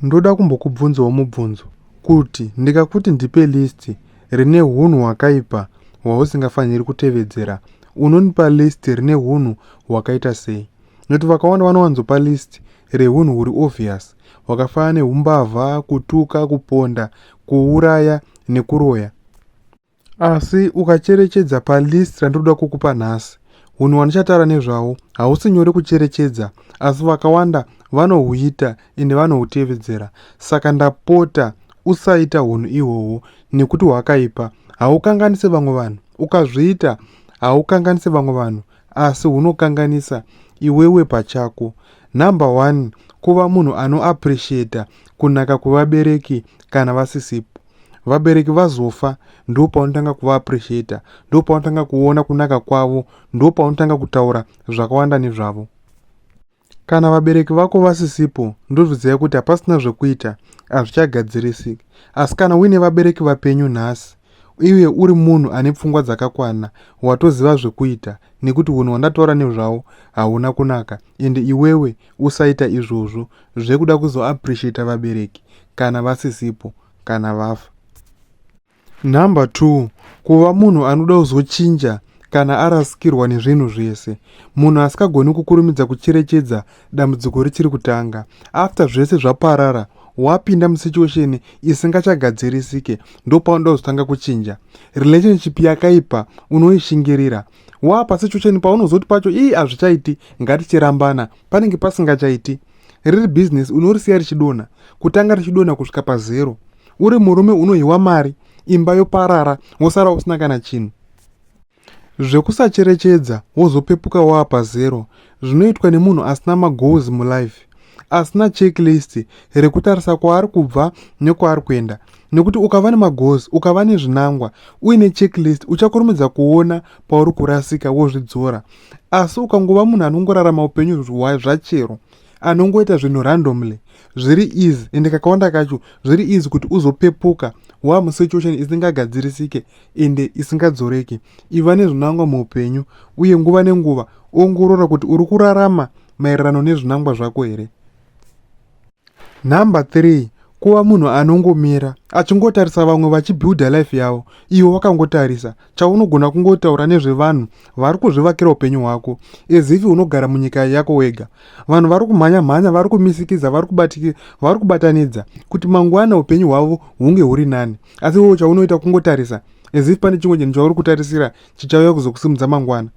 Ndoda kumbokubvunzawo mubvunzo kuti ndikakuti ndipe list rine hunhu hwakaipa hwausingafaniri kutevedzera unonipa list rine hunhu hwakaita sei nekuti vakawanda vanowanzopa list rehunhu huri obvious hwakafanana neumbavha kutuka kuponda kuuraya nekuroya Asi ukacherechedza palist randinoda kukupa nhasi, hunhu hwandichataura nezvawo hausi nyore kucherechedza, asi vakawanda vanohuita ende vanohutevedzera. Saka ndapota usaita hunhu ihwohwo nekuti hwakaipa. Haukanganise vamwe vanhu. Ukazviita haukanganise vamwe vanhu, asi hunokanganisa iwewe pachako. Number one, kuva munhu anoappreciata kunaka kwevabereki kana vasisipo. vabereki vazofa ndo paunotanga kuva appreciator ndo paunotanga kuona kunaka kwavo ndo paunotanga kutaura zvakawanda nezvavo kana vabereki vako vasisipo ndozviziva kuti hapasina zvekuita hazvichagadzirisiki asi kana uine vabereki vapenyu nhasi iye uri munhu ane pfungwa dzakakwana watoziva zvekuita nekuti hunhu hwandataura nezvawo hauna kunaka ende iwewe usaita izvozvo zvekuda kuzoappreciata vabereki kana vasisipo kana vafa number two kuva munhu anoda kuzochinja kana arasikirwa nezvinhu zvese munhu asikagoni kukurumidza kucherechedza dambudziko richiri kutanga after zvese zvaparara wapinda musituation isingachagadzirisike ndopaunoda kuzotanga kuchinja relationship yakaipa unoishingirira waa pasituation paunozoti pacho ii hazvichaiti ngatichirambana panenge pasingachaiti riri bhizinesi unorisiya richidonha kutanga richidonha kusvika pazero uri murume unohiwa mari imba yoparara wosara usina kana chinhu zvekusacherechedza wozopepuka waa pazero zvinoitwa nemunhu asina magoals mulife asina checklist rekutarisa kwaari kubva nekwaari kuenda nekuti ukava nemagoals ukava nezvinangwa uine checklist uchakurumidza kuona pauri kurasika wozvidzora asi ukangova munhu anongorarama upenyu hwai zvachero anongoita zvinhu randomly zviri easy ende kakawanda kacho zviri easy kuti uzopepuka wamusetuation isingagadzirisike ende isingadzoreki Iva nezvinangwa muupenyu, uye nguva nenguva ongorora kuti uri kurarama maererano nezvinangwa zvako here. Number 3 kuva munhu anongomira achingotarisa vamwe vachibuilda life yavo iwe wakangotarisa chaunogona kungotaura nezvevanhu vari kuzvivakira upenyu hwako ezifi unogara munyika yako wega vanhu vari kumhanya mhanya vari kumisikidza vari kubatanidza kuti mangwana upenyu hwavo hunge huri nani asi iwewo chaunoita kungotarisa as if pane chimwe chinhu chauri kutarisira chichauya kuzokusimudza mangwana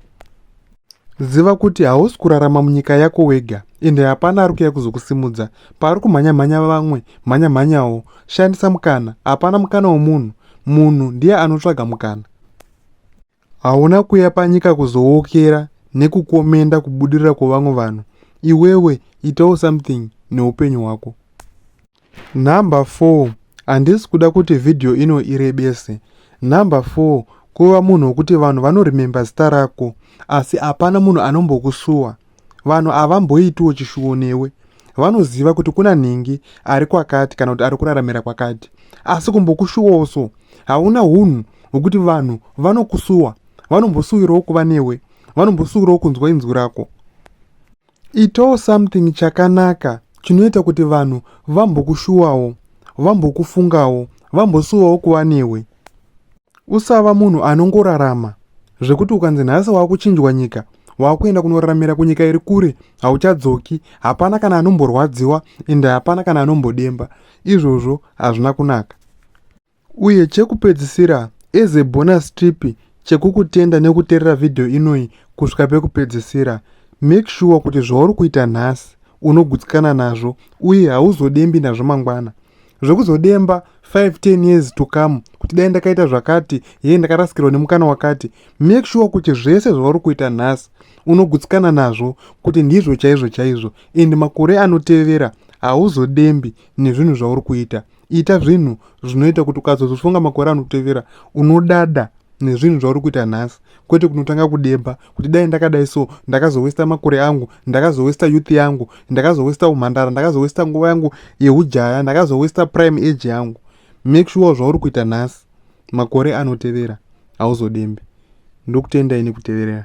ziva kuti hausi kurarama munyika yako wega ende hapana ari kuya kuzokusimudza paari kumhanyamhanya vamwe mhanyamhanyawo shandisa mukana hapana mukana womunhu munhu ndiye anotsvaga mukana Hauna kuya panyika kuzowokera nekukomenda kubudirira kwevamwe vanhu. Iwewe itawo something neupenyu hwako. Number 4 handisi kuda kuti vhidhiyo ino irebese. Number 4 kuva munhu wokuti vanhu vanorememba zita rako asi hapana munhu anombokusuwa. Vanhu havamboitiwo chishuwo newe. Vanoziva kuti kuna nhingi ari kwakati kana kuti ari kuraramira kwakati. Asi kumbokushuwawo so. Hauna hunhu hwekuti vanhu vanokusuwa. Vanombosuwirawo kuva newe. Vanombosuwirawo kunzwa inzwi rako. Itawo something chakanaka chinoita kuti vanhu vambokushuwawo, vambokufungawo, vambosuwawo kuva newe. Usava munhu anongorarama zvekuti ukanzi nhasi wakuchinjwa nyika wakuenda kunoraramira kunyika iri kure hauchadzoki hapana kana anomborwadziwa ende hapana kana anombodemba izvozvo hazvina kunaka uye chekupedzisira as a bonus trip chekukutenda nekuterera vhidhiyo inoyi kusvika pekupedzisira make sure kuti zvauri kuita nhasi unogutsikana nazvo uye hauzodembi nazvo mangwana zvekuzodemba 5 10 years to come kuti dai ndakaita zvakati hei ndakarasikirwa nemukana wakati make sure kuti zvese zvauri kuita nhasi unogutsikana nazvo kuti ndizvo chaizvo chaizvo and makore anotevera hauzodembi nezvinhu zvauri kuita ita zvinhu zvinoita kuti ukazozofunga makore anotevera unodada nezvinhu zvauri kuita nhasi kwete kunotanga kudemba kuti dai ndakadai so ndakazowesta makore angu ndakazowesta youth yangu ndakazowesta umhandara ndakazowesta nguva yangu yeujaya ndakazowesta prime age yangu make sure zvauri kuita nhasi makore anotevera hauzodembe ndokutendai nekuteverera